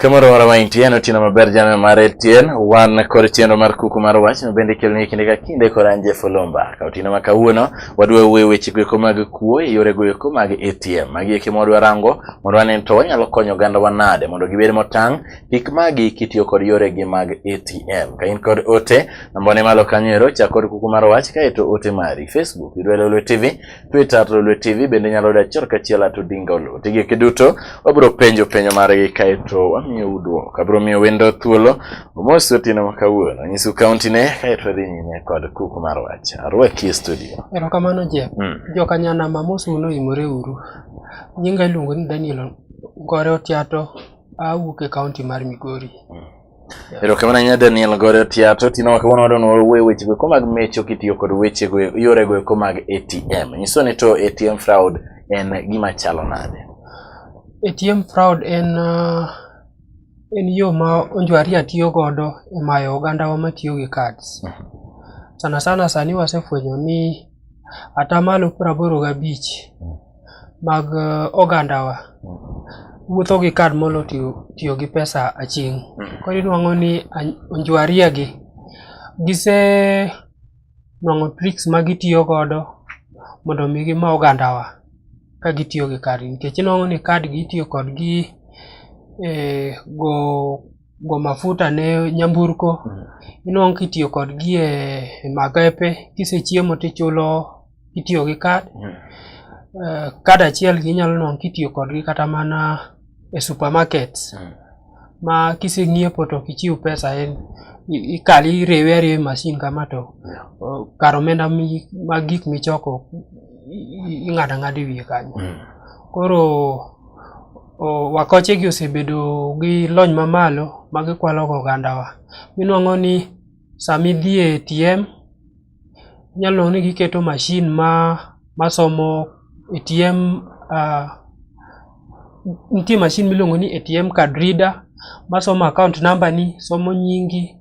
Kamoro moro ma intie en otieno maber jana mar Etienne wan kod chenro mar kuku mar wach ma bende ikeloni kinde ka kinde kod an Jeff Olomba. Ka otieno ma kawuono wadwa wuoye weche goeko mag kuo e yore goeko mag ATM. Magi eki mwadwa rango mondo wane to wanyalo konyo oganda wa nade mondo gibed motang' kik magi kitiyo kod yore gi mag ATM. Ka in kod ote namba ne malo kanyo ero chak kod kuku mar wach kae to ote mari Facebook idwa Lolwe TV, Twitter at Lolwe TV bende nyalo da chor kachiel at Odinga Oloo. Tigi kiduto wabro penjo penjo margi kae to wamiyo udwoko. Abro miyo wendo thuolo Omos otieno ma kawuono nyisu kaunti ne kae to dhi nyime kod kuku mar wach. Arwaki e studio. Erokamano Jeff. Mm. Jokanyana mamos uno imore uru. Nyinga iluongo ni Daniel Gore Otiato awuok e kaunti mar Migori. Mm. Erokamano ahinya Daniel Gore Otiato. Tino ma kawuono wadwa ni wawuoye wechego eko mag mecho kitiyo kod wechego yorego eko mag ATM. Nyiso ni to ATM fraud en gima chalo nade? ATM fraud en uh, En yo ma Onjwaria tiyo godo e mayo ogandawa matiyo gi cards. Sana sana sani wasefwenyo ni atamalo praboro gabich mag eh, ogandawa wuotho gi kad molo tiyo, tiyo gi pesa aching'. Koro inwang'o ni Onjwaria gi gise nwang'o tricks ma gitiyo godo mondo mi gima ogandawa ka gitiyo gi kad nikech inwang'o ni kad gi itiyo kodgi e, go go mafuta ne nyamburko mm. inwang'o kitiyo kodgi e, e magepe kisechiemo tichulo kitiyo gi kad mm. e, kad achiel gi inyalo nwang'o kitiyo kodgi kata mana e supermarket mm. ma kiseng'iepo to kichiw pesa en ikal iriwe ariwe e masin kama to kar omenda ma gik michoko ing'ado ang'ado e wiye kanyo mm. koro wakochegi osebedo gi lony mamalo ma gikwalogo ogandawa. Inwang'o ni sama idhi e ATM nyalo ni giketo mashin ma masomo ATM uh, nitie mashin miluongo ni ATM card reader masomo account number ni somo nyingi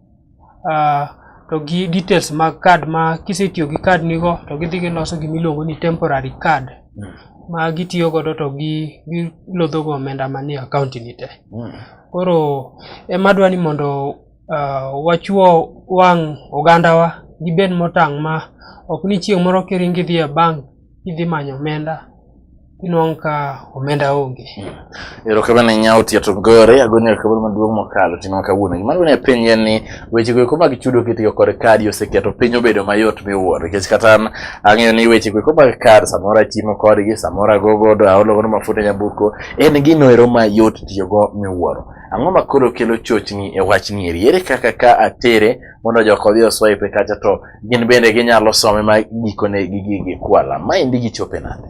uh, to gi details mag card ma kisetiyo gi card nigo to gidhi giloso gima iluongo ni temporary card mm. ma gitiyo godo to gi gilodhogo omenda manie account ni te mm. koro ema dwa ni mondo uh, wachuo wang' ogandawa gibed motang' ma ok ni chieng' moro kiringi dhi e bank idhi manyo omenda inwang' ka omenda onge. Hmm. Erokamano ahinya Otia to gore agoni erokamano maduong' mokalo tinwa kawuono. Gima duong' e piny en ni weche go eko mag chudo kitiyo kod kadi oseketo piny obedo mayot miwuoro nikech kata an ang'eyo ni weche go eko mag kad samoro atimo kodgi samoro ago godo aolo godo mafuta nyamburko en gino ero mayot tiyogo miwuoro. Ang'o ma koro kelo chochni e wachni eri? Ere kaka ka atere mondo jok odhi oswipe kacha to gin bende ginyalo some ma gikone gigi gikwala. Ma endi gichope nade?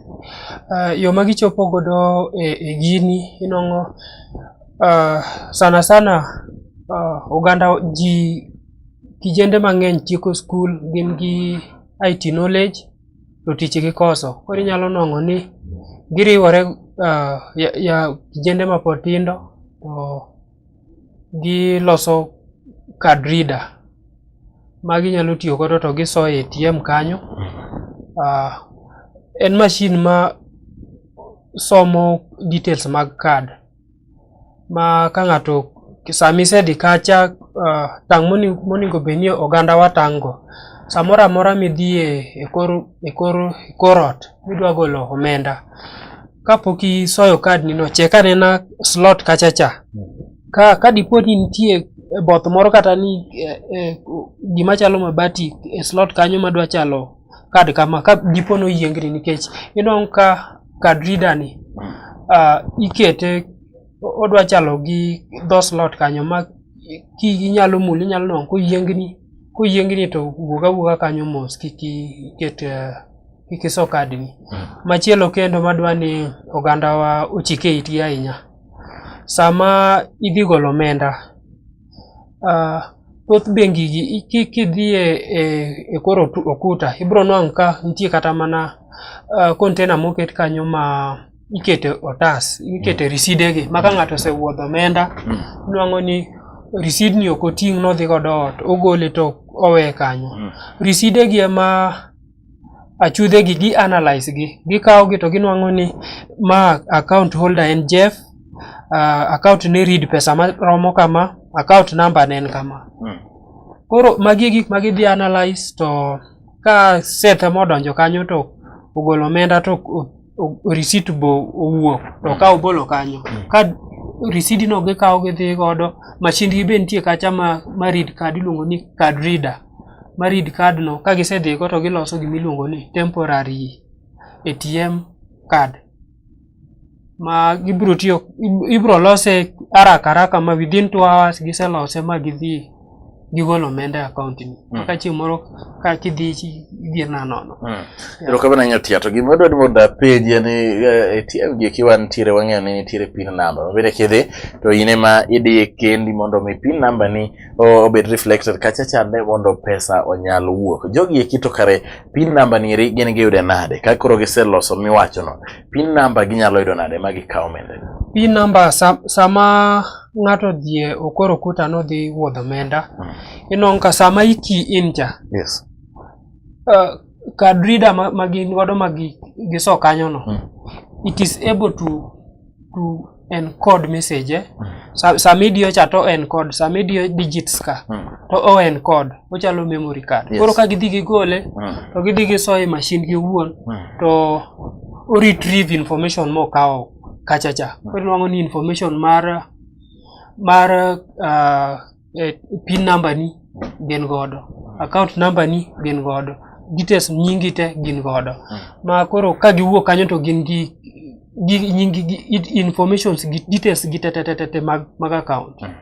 Uh, yo ma gichopo godo e, e gini inong'o uh, ah, sana sana uh, oganda ji kijende mang'eny tieko skul gin gi IT knowledge to tich gikoso. Koro inyalo nwang'o ni giriwore uh, ya, ya kijende mapod tindo to giloso card reader ma ginyalo tiyo godo to giso e ATM kanyo. Uh, en mashin ma somo details mag card ma ka ng'ato sami sedi kacha uh, tang' moningo bed ni oganda wa tang'go samoro amora midhie e kor, e kor, e kor ot midwa golo omenda kapok isoyo kad nino chek anena slot kachacha ka, ka dipo ni nitie both moro kata ni eh, eh, gima chalo mabati e slot kanyo madwa chalo kad kama ka dipo ni oyiengni nikech inwang'o ka kad reader ni uh, ikete odwa chalo gi dho slot kanyo ma ki inyalo mul inyalo nwang'o koyiengni koyiengni to wuog awuoga kanyo mos kik iket uh, kik iso kadni hmm. machielo kendo madwa ni ogandawa ochike itgi ahinya sama idhi golo omenda Ah, thoth bengi gi i- ki- kidhie e, e kor otu- okuta ibro nwang' ka nitie kata mana ah, container moket kanyo ma ikete otas ikete riside gi ma ka ng'ato osewuodho omenda Mm. nwang'o ni risid ni ok oting' nodhi godo ot ogole to owe kanyo Mm. riside gi ema achudhegi gi analyze gi gikawogi to ginwang'o ni ma account holder en Jeff uh, account ni read pesa ma romo kama account number ne en kama hmm. koro magi e gik ma gidhi analyze to ka Seth modonjo kanyo to ogolo omenda to risit bo owuok to ka obolo kanyo mm. ka risidi no gikawo gidhi godo machindgi be nitie kacha ma, ma read card iluongo ni card reader ma read card no ka gisedhigo to giloso gima iluongo ni temporary ATM card ma gibiro tiyo ibiro lose haraka haraka ma within two hours giselose ma gidhi gigolo omenda e account ni mm. maka chieng' moro ka kidhi idhier na nono mm. ero ka bana nyatia to gima dwani mondo apenji en eh, ATM gi kiwa nitiere wang'eyo ni nitiere pin number mabende kidhi to in ema idiye kendi mondo mi pin number ni obed reflected kacha chande mondo pesa onyal wuok jogi eki to kare pin number ni eri gin giyude nade ka koro giseloso miwachono Pin number ginyalo yudo nade ma gikaw omenda? Pin number sa, sama ng'ato dhie okoro kuta no dhi wuodho omenda. Hmm. Inong ka sama iki in cha. Yes. Uh, card reader ma, ma gin godo ma gi, giso kanyo no. Hmm. It is able to to en code message mm. sa, sama idiyo cha to en code sama idiyo digits ka mm. to o en code ochalo memory card yes. koro ka gidhi gigole mm. to gidhi gisoye machine gi owuon mm. to o retrieve information mokawo kachacha mm. koro nwang'o ni information mar mar uh, eh, pin number ni gin godo account number ni gin godo details nyingi te gin godo mm. ma koro ka giwuok kanyo to gin gi gi nyingi gi informations gi details gi te te te te mag mag account mm.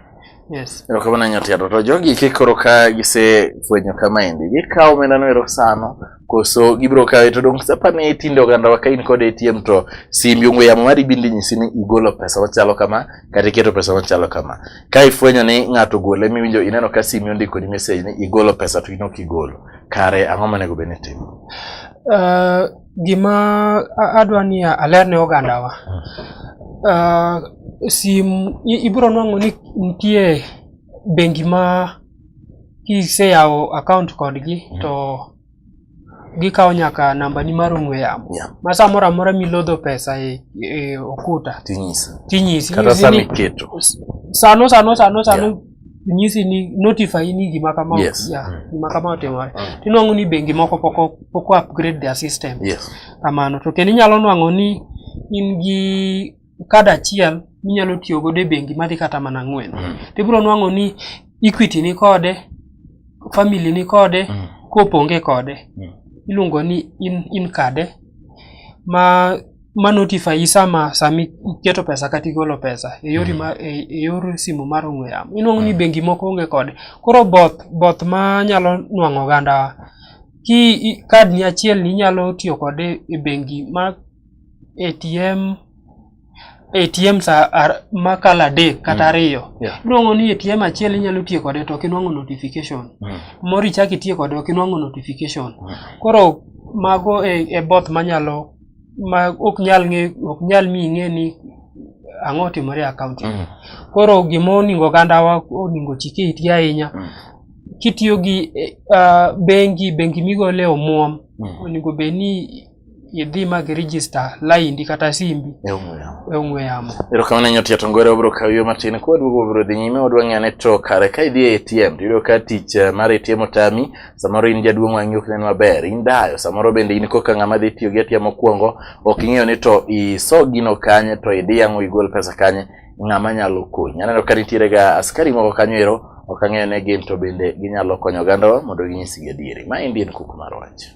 yes erokamano nyotiato to jogi kikoro ka gisefwenyo kama endi gikawo omendano erosano koso gibiro kawe to dong' sapa ne tinde oganda ka in kod ATM to simbi ong'we yamo mari bindi nyisi ni igolo pesa machalo kama kata iketo pesa machalo kama. Ka ifwenyo ni ng'ato gole miwinjo ineno ka simi ondiko ni message ni igolo pesa to in ok igolo. Kare ang'o monego bed ni itimo? Uh, gima adwa ni aler ne ogandawa. Uh, sim ibiro nwang'o ni nitie bengi ma kiseyawo account kodgi mm. to gikawo nyaka namba ni mar ong'we yamo yeah. ma samoro amora milodho pesa e, e okuta tinyisi sano sano sano sano yeah. nyisi ni notify ni gima kama yes. yeah, mm. gima kama otimore mm. tinwang'o ni bengi moko poko poko upgrade their system yes. kamano to kendo inyalo nwang'o ni in gi kad achiel minyalo tiyo godo e bengi madhi kata mana ang'wen mm. tibiro nwang'o ni equity ni kode family ni kode mm. koponge kode mm. iluongo ni in, in kade ma ma notify sama sama iketo pesa kata igolo pesa e yor, mm. e, e yor simu mar ong'we yamo inuang'o ni mm. bengi moko onge kode koro both both ma nyalo nwang'o oganda ki kad ni achiel ni inyalo tiyo kode e bengi ma ATM ATM sa ar, makala adek kata mm. ariyo mm. yeah. iluongo ni ATM achiel inyalo tiyo kode to ok inwang'o notification mm. moro ichak itiyo kode ok inwang'o notification mm. koro mago e, e both manyalo ma ok nyal ng'e ok nyal mi ing'e ni ang'o timore e akaunti mm. koro gima oningo ogandawa oningo chike iti ahinya mm. kitiyo gi uh, bengi bengi migole omuom mm. oningo bed ni idhi ma gi register laindi kata simbi e ong'we yamo. Erokamano nyo tiyo tongore obro kaw yo matin kwa duogo obro dhi nyime wadwa ng'eyo ne to kare ka idhi e ATM to iyudo ka tich eh, mar ATM otami samoro in jaduong' wang'i ok nen maber in dayo samoro bende in koka ng'ama dhi tiyo gi ATM mokwongo ok ing'eyo ni to iso gino kanye to idhi yang'o igol pesa kanye ng'ama nyalo konyi aneno ka nitiere ga askari moko kanyo ero ok ang'eyo ne gin to bende ginyalo konyo ogandawa mondo ginyisgi adieri ma endi en kuku mar wach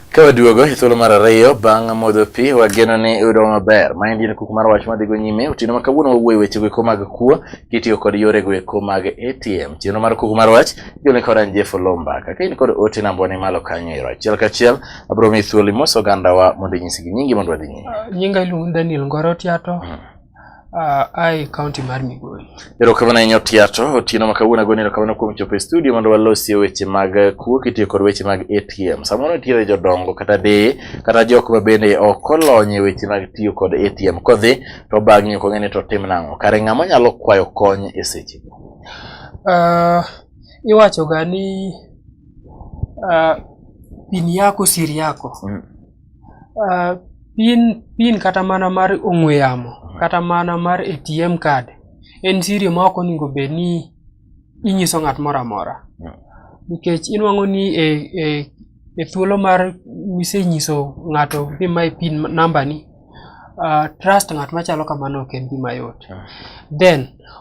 Ka waduogo e thuolo mar ariyo bang' modho pi, wageno ni iyudo maber. Maendi en kuku mar wach madhigo nyime. Otieno ma kawuono wawuoyo weche go eko mag kuo kitiyo kod yore go eko mag ATM. Chenro mar kuku mar wach igole kod an Jeff Olomba. Kaka in kod ote namba ni malo kanyo ero. Achiel kachiel abro mi thuolo imoso ogandawa mondo inyisgi nyingi mondo wadhi nyime. Nyinga iluongo ni Daniel Ngoro Tiato. Mm. Uh, ai kaunti mar Migori. Erokamano ahinya Otiato, otieno ma kawuono agoni erokamano kuom chopo e studio mondo walosie weche mag eh, kuo kitiyo kod weche mag ATM. Samoro nitiere jodongo kata deye kata jok ma bende ok olony e weche mag tiyo kod ATM. Kodhi to bang'e ok ong'e ni to tim nang'o. Kare ng'ama nyalo kwayo kony e seche go? Uh, iwachoga ni uh, pini yako siri yako. Mm. Uh, pin pin kata mana mar ong'we yamo kata mana mar ATM card en siri ma ok onego bed ni inyiso ng'at moro amora hmm. nikech inwang'o ni e, e, e thuolo mar misenyiso ng'ato ni mae pin namba ni uh, trust ng'at machalo kamano ok en gima yot hmm. then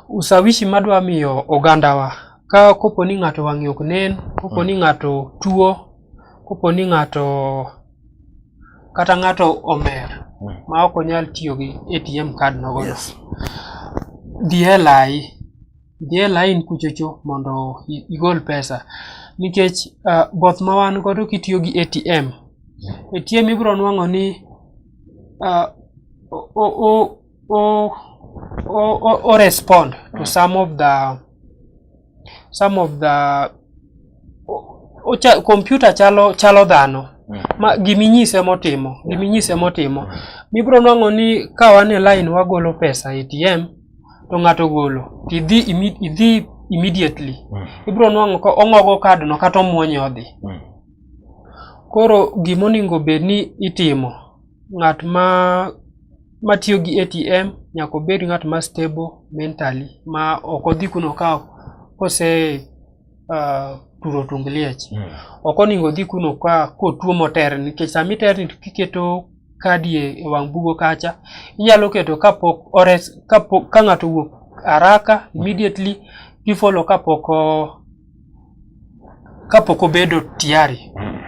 usawishi madwa miyo ogandawa ka kopo ni ng'ato wang'e ok nen kopo ni hmm. ng'ato tuo Kopo ni ng'ato kata ng'ato omer hmm. ma ok onyal tiyo gi ATM card nogo yes. dhi e lai dhi e lain kuchocho mondo igol pesa nikech uh, both ma wan godo kitiyo gi ATM ATM ibiro nwang'o ni uh, o, o, o, o, o, o respond to hmm. some of the some of the ocha, computer chalo chalo dhano mm. ma giminyise motimo giminyise motimo mm. mibro nwang'o ni ka wan e line wagolo pesa ATM to ng'ato golo tidhi idhi immediately mm. ibro nwang'o ko ong'ogo card no kata omuonye odhi mm. koro gimoningo bed ni itimo ng'at ma matiyo gi ATM nyaka obed ng'at ma stable mentally ma ok odhi kuno ka kose uh, turo tung liech mm. ok oningo odhi kuno ka kotuo moter nikech sama iterni kiketo kadi e, e wang' bugo kacha inyalo keto kapok ores kapok ka ng'ato wuok haraka immediately kifollow kapok kapok obedo tiari mm.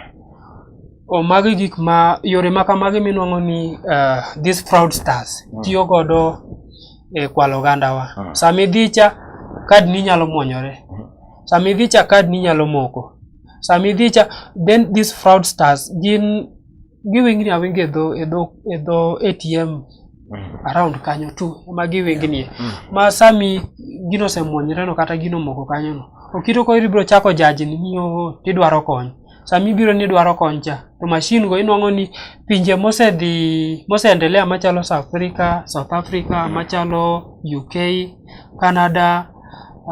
o magi gik ma yore ma kamagi minwang'o ni uh, these fraud stars mm. tiyo godo e kwalo ogandawa mm. sama idhi cha kad ni nyalo mwonyore mm. sama idhi cha kad ni nyalo moko sama idhi cha then these fraud stars gin giwingni awingi e dho e dho e dho ATM around kanyo tu ema giwingnie ma sami gino osemwonyre no kata gino moko kanyo no okito ko ibiro chako jaji ni ni oo tidwaro kony sami ibiro ni idwaro kony cha to machine go inwang'o ni pinje mosedhi moseendelea machalo South Africa South Africa machalo UK Canada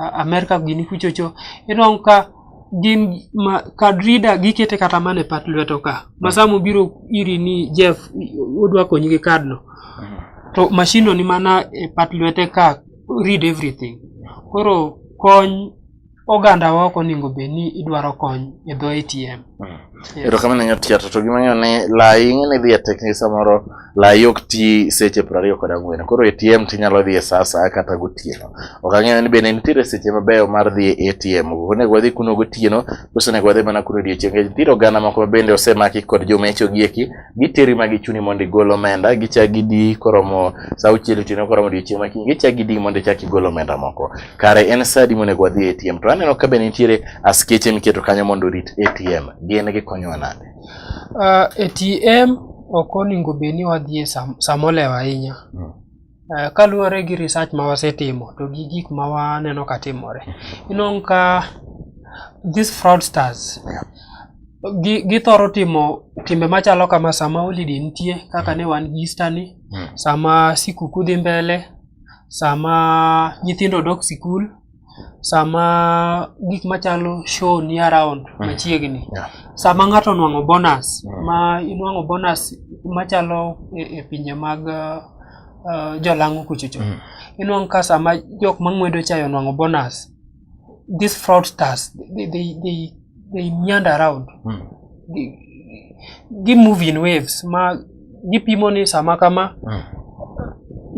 a- America gini kuchocho inwang'o ka gin ma kad rida gikete kata mana e pat lweto ka ma sama obiro iri ni Jeff odwa konyi gi kad no mhm. to mashino ni mana e pat lwete ka read everything koro kony oganda wa ok onego bed ni idwaro kony e dho ATM. Erokamano nyar tiato to gimang'eyo ni lai ing'e ni dhi e tekni samoro lai ok ti seche piero ariyo kod ang'wen koro ATM tinyalo dhi e sa asaya kata gotieno. Ok ang'eyo ni bende nitiere seche mabeyo mar dhi e ATM onego wadhi kuno gotieno koso onego wadhi mana kuno odiechieng' nikech nitiere oganda moko mabende osemaki kod jomecho gi eki giteri ma gichuni mondo igol omenda gichak gidi koromo sa auchiel otieno koromo odiechieng' ma kiny gichak gidi mondo ichak igol omenda moko kare en sa adi monego wadhi e ATM to aneno ka be nitiere askeche miketo kanyo mondo orit ATM gin gikonyowa nade uh, ah, ATM ok onego bed ni wadhi e sam, samolewa ahinya mm. Eh, kaluwore gi research ma wasetimo to gi gik ma waneno ka timore inong' ka these fraudsters githoro timo timbe machalo kama sama holiday nitie kaka ne wan gi Easter ni hmm. sama sikuku dhi mbele sama nyithindo dok sikul sama gik machalo show ni around mm. machiegni yeah. sama ng'ato nwang'o bonus mm. ma inwang'o bonus machalo e, e pinje mag uh, jolang'o kuchocho mm. inwang' ka sama jok mang'wedo chayo nwang'o bonus these fraudsters they, they, they they meander around Mm. Gi- gi move in waves ma gipimo ni sama kama Mm.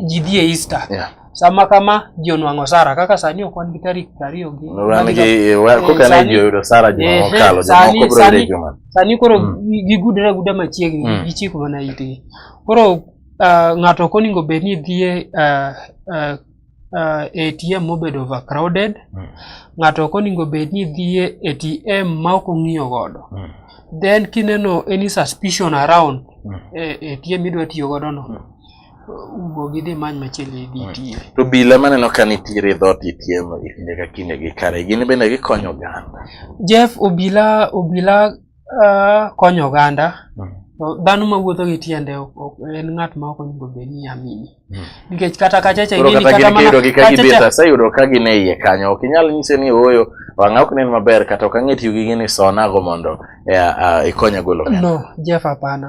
ji dhi e Easter Yeah. sama kama ji onwang'o sara kaka sani ok wan gi tarik prariyo gi Wan gi eh, wa- Eh, koka ne sani- ji oyudo Sara juma Ehe, mokalo, sani- jomoko biro yudo sani- juma. sani koro Mm. gi- gigudre aguda machiegni Mm. gichiko mana itgi koro ah, ng'ato ok onego bed ni dhie ah, ah, uh, ATM mobed overcrowded mm. ng'ato ok oningo bed ni dhie ATM ma ok ong'iyo godo mm. then kineno any suspicion around mm. eh, ATM idwa tiyo godo no mm. wuog idhi many machiegni idhi mm. tiye to bila maneno ka nitiere dhot ATM e kinde ka kinde gi kare gin bende gikonyo oganda Jeff obila obila Ah, konyo oganda Mm. To dhano mawuotho gi tiende ok- ok- en ng'at ma ok onego bed ni amini Mm. nikech kata kachacha Koro ing'eni kata kata gin mana kiyudo gi ka kachacha- gibeta sayudo ka gin e iye kanyo ok inyal nyise ni ooyo wang'a ok nen maber kata ok ang'e tiyo gi gini sonago mondo eh, ah, ikonya golo omenda. no jeff hapana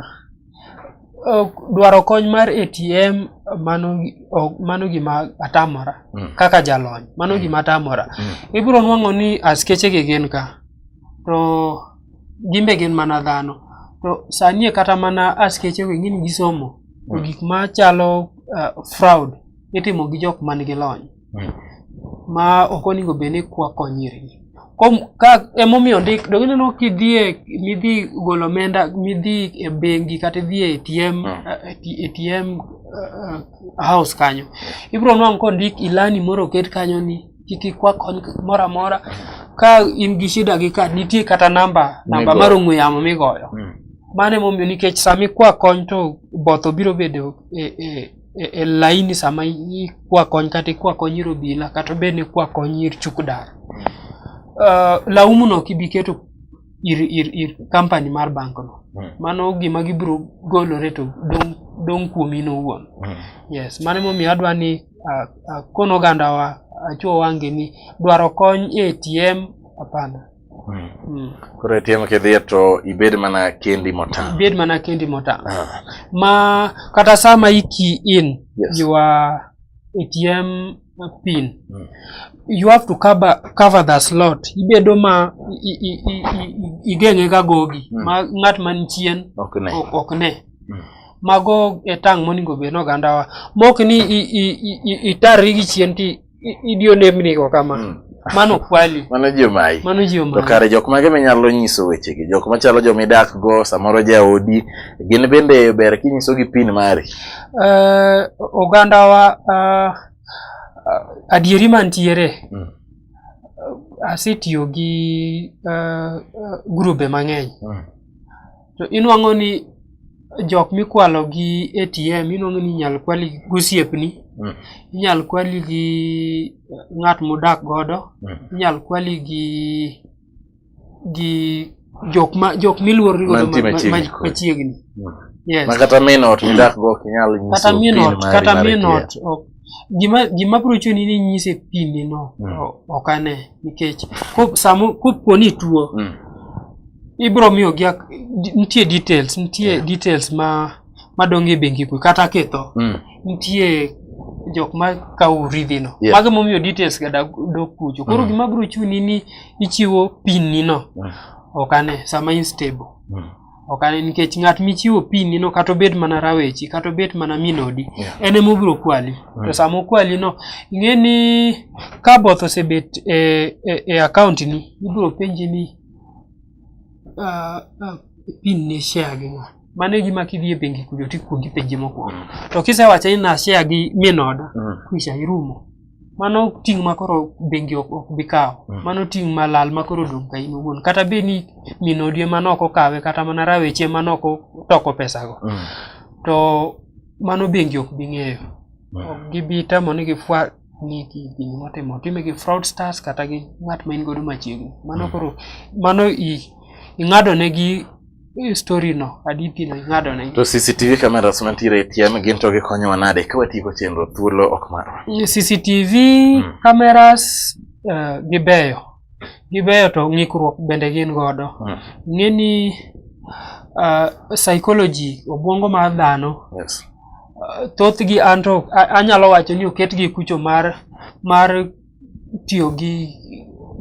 Ok, dwaro kony mar atm mano gi- ok- mano gima atamora Mm. kaka jalony mano gima atamora Mm. ibiro nwang'o ni askeche gi gin ka to gin be gin mana dhano to sani e kata mana askeche gi ng'ini gisomo to mm. gik ma chalo uh, fraud itimo gi jok man gi lony mm. ma ok onego bed ni kwako nyirgi ka emomiyo ndik dong ineno kidhie midhi golo omenda midhi e bengi kata idhie ATM mm. uh, ATM uh, house kanyo ibiro nwang' kondik ilani moro oket kanyo ni kik ikwa kony moro amora ka in gi shida gi ka nitie kata namba namba mar ong'we yamo migoyo mm. mano emomiyo nikech sama ikwa kony to both obiro bedo e, e, e, e laini sama ikwa kony kata ikwa kony ir obila kata obed ni ikwa kony ir chukdar mm. uh, eh, laumuno ok ibi keto ir, ir, ir company mar bankno mm. mano gima gibiro golore to dong' dong' kuomi nowuon mm. yes mano emomiyo adwa ni ah, ah, kono ogandawa achuo wange ni dwaro kony e ATM hapana. Hmm. Hmm. Koro ATM kidhiye to ibed mana kendi motang'. Ibed mana kendi motang'. Ah. Ma kata sama iki in yes. you are ATM pin mm. you have to cover, cover the slot ibedo ma igeng'e ga gogi mm. ma ng'at man chien ok ne, ok ne. Mm. mago e tang' moningo bed nogandawa mok ni itarri gi chien ti idiyo nembnigo kama mm. mano kwali mano jomayi mano jomayi to kare jok mage minyalo nyiso wechegi jok machalo joma idak go samoro jaodi gin bende ber kinyisogi pin mari uh, ogandawa uh, adieri mantiere mm. asetiyo gi uh, grube mang'eny mm. to inwang'o ni jok mikwalo gi ATM inwang'o ni inyal kwali gi gosiepni Mm. inyal kwali gi ng'at mudak godo Mm. inyal kwali gi gi jok ma jok miluorri godo Mantie ma- ma- machiegni ma- kodi. machiegni Mm. yes ma kata min ot midak go ok inyal nyiso kata pin minot mari kata mar ATM. minot ok gima gima bro chuni ni nyise pili no mm. ok ane nikech ko samo ko poni tuo mm. ibro miyo gi nitie details nitie yeah. details ma madonge bengi ku kata ketho mm. nitie jok ma kawo uridhi no yeah. mago momiyo details ga da do kucho koro mm. gima bro chuni ni ichiwo pin ni no mm. ok ane sama in stable mm. okane nikech ng'at michiwo pini no kata obed mana rawechi kata obed mana minodi yeah. en ema obiro kwali mm. to sama okwali no ing'e ni ka both osebet e, e, e account ni ibiro penji ni uh, uh, pin ne share gi ng'a mano e gima kidhi e bengi kujo tikuongi penji mokwongo mm. to kisewacho ni na share gi minoda mm. kwisha irumo mano ting' ma koro bengi ok ok bi kawo Mm. mano ting' ma lal ma koro dong' ka in owuon kata bed ni min odi ema ne ok okawe kata mana rawech ema ne ok otoko pesago Mm. to mano bengi ok bi ng'eyo Mm. ok gibi tamo ni gifwa ni gi- gini motimo time gi fraudsters kata gi ng'at ma in godo machiegni mano Mm. koro mano i ing'ado ne gi Hii story no, hadithi no ing'ado na To CCTV cameras mantiere e TM gin to gikonyowa nade ka watieko chenro thuolo ok marwa? CCTV hmm. cameras uh, gibeyo. Gibeyo to ng'ikruok bende gin godo. Hmm. Ng'eni uh, psychology obwongo mar dhano. Yes. Uh, thothgi anto anyalo wacho ni oketgi kucho mar mar tiyo gi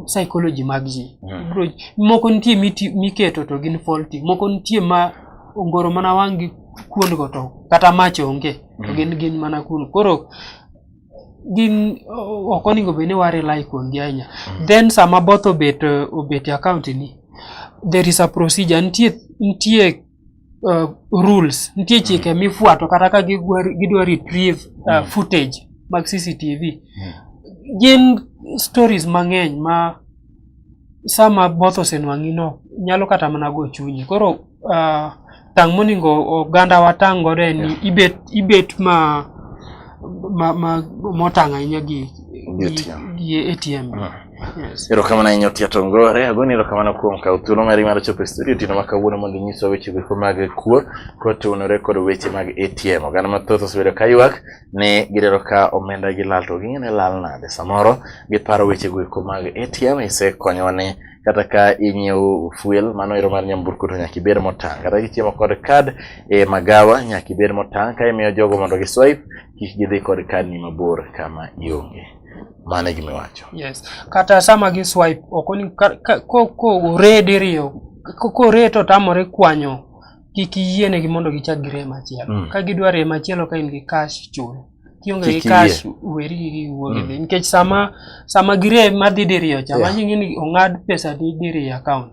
psychology mag ji hmm. moko nitie miketo to gin faulty moko nitie ma ongoro mana wang' gi kuond go to kata mach onge to hmm. gin gin mana kuno koro gin ok onego bed ni wa rely kuom gi ahinya hmm. then sama both obet obet account ni there is a procedure nitie nitie uh, rules nitie chike mm. mifuato kata ka gidwa retrieve uh, mm. footage mag cctv mm. gin stories mang'eny ma sama both osenwang'ino nyalo kata mana go chunyi koro uh, tang' moningo oganda watang' godo en yeah. ibet, ibet ma, ma, ma motang' ahinya gi, gi ATM. Gi ATM. Uh. Erokamano ahinya Otia Tongore, agoni erokamano kuom kawo thuolo mari mar chopo e studio tino ma kawuono mondo inyiswa weche goeko mag kuo kotenore kod weche mag ATM. Oganda mathoth osebedo ka ywak ni gidwaro ka omenda gi lal to ging'e ni lal nade. Samoro giparo weche goeko mag ATM isekonyowa ni kata ka inyiewo fuel mano ero mar nyamburko to nyaka ibed motang'. Kata kichiemo kod kad e magawa nyaka ibed motang' ka imiyo jogo mondo gi swipe kik gidhi kod kad ni mabor kama ionge. mano e gima iwacho yes kata sama gi swipe ok onego ko ko ore diriyo ko ko ore to tamore kwanyo kik yienegi mondo gichak gire machielo mm. ka gidwa re machielo ka in gi cash chulo kionge gi cash weri gi wuogi mm. nikech sama sama gire madhi diriyo cha yeah. manyi ngini ongad pesa di diriyo account